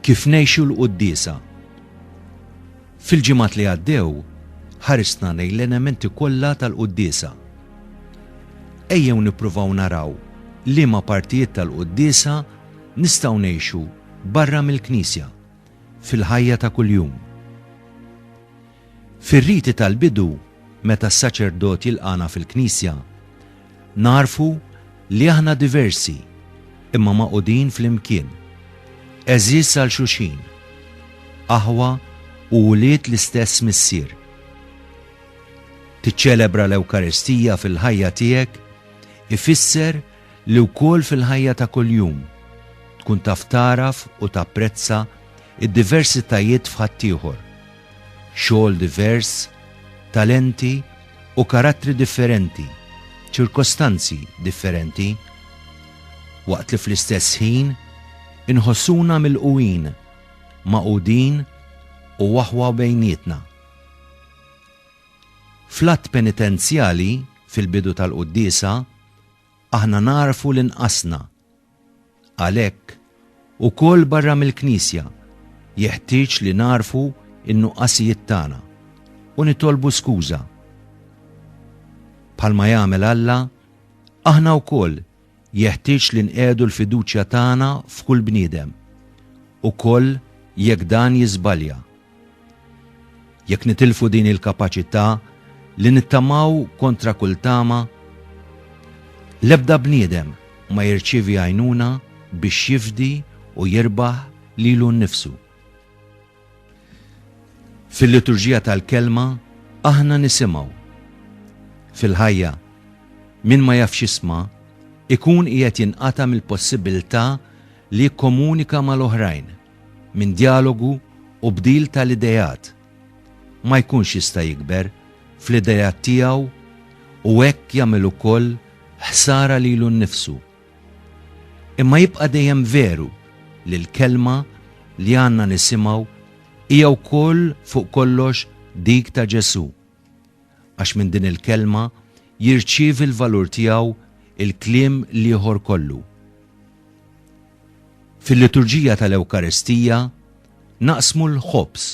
kif nejxu l-qoddisa. Fil-ġimat li għaddew, ħarisna nej l-elementi kollha tal-qoddisa. Ejjew nippruvaw naraw li ma partijiet tal-qoddisa nistaw nejxu barra mill-knisja. fil-ħajja ta' kuljum. Fir-riti tal-bidu, meta s-saċerdot jilqagħna fil-knisja, nagħrfu li aħna diversi imma magħqudin flimkien, għeżież għal xulxin, aħwa u wlied l-istess Missier. Tiċċelebra l-Ewkaristija fil-ħajja tiegħek ifisser li wkoll fil-ħajja ta' kuljum tkun taf tagħraf u tapprezza d-diversitajiet f'ħaddieħor, xogħol divers, talenti u karattri differenti, ċirkostanzi differenti, waqt li fl-istess ħin inħossuna milqugħin, magħqudin u aħwa bejnietna. Fl-Att Penitenzjali, fil-bidu tal-Quddiesa, Aħna nagħrfu li nqasna. Għalhekk, ukoll barra mill-Knisja, jeħtieġ li nagħrfu n-nuqqasijiet tagħna u nitolbu skuża. Bħalma jagħmel Alla, aħna wkoll jeħtieġ li nqiegħdu l-fiduċja tagħna f'kull bniedem, ukoll jekk dan jiżbalja. Jekk nitilfu din il-kapaċità li nittamaw kontra kull tama, l-ebda bniedem ma jirċievi għajnuna biex jifdi u jirbaħ lilu nnifsu. Fil-liturġija tal-Kelma aħna nisimgħu. Fil-ħajja, min ma jafx jisma' ikun qiegħed jinqata' mill-possibilità li jikkomunika mal-oħrajn. minn djalogu u bdil tal-ideat, ma jkunx jista' jikber fl-ideat tiegħu u hekk jagħmel ukoll ħsara lilu nnifsu. Imma jibqa' dejjem veru li l-kelma li għandna nisimgħu hija wkoll fuq kollox dik ta' Ġesù. Għax minn din il-kelma jirċievi l-valur tiegħu il-kliem l-ieħor kollu. Fil-liturġija tal-Ewkaristija naqsmu l-ħobż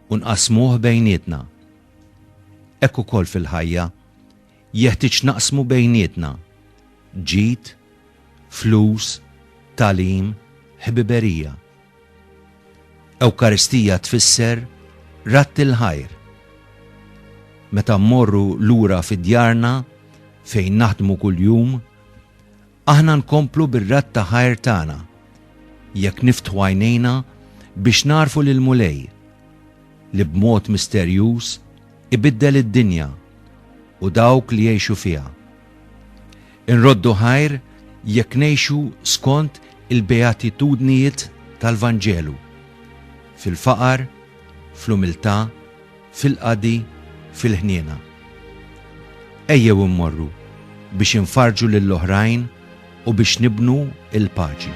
u nqasmuh bejnietna. Hekk ukoll fil-ħajja jeħtieġ naqsmu bejnietna ġid, flus, talim, ħbiberija. Ewkaristija tfisser radd il-ħajr. Meta mmorru lura fi djarna fejn naħdmu kuljum, aħna nkomplu bir-radd ta' ħajr tagħna jekk niftħu għajnejna biex narfu lil Mulej li b'mod misterjuż ibiddel id-dinja u dawk li jgħixu fiha. Inroddu ħajr jekk ngħixu skont il-beatitudnijiet tal-Vanġelu, fil-faqar, fl-umiltà, fil-qadi, fil-ħniena. Ejjew immorru biex infarrġu lill-oħrajn u biex nibnu l-paċi.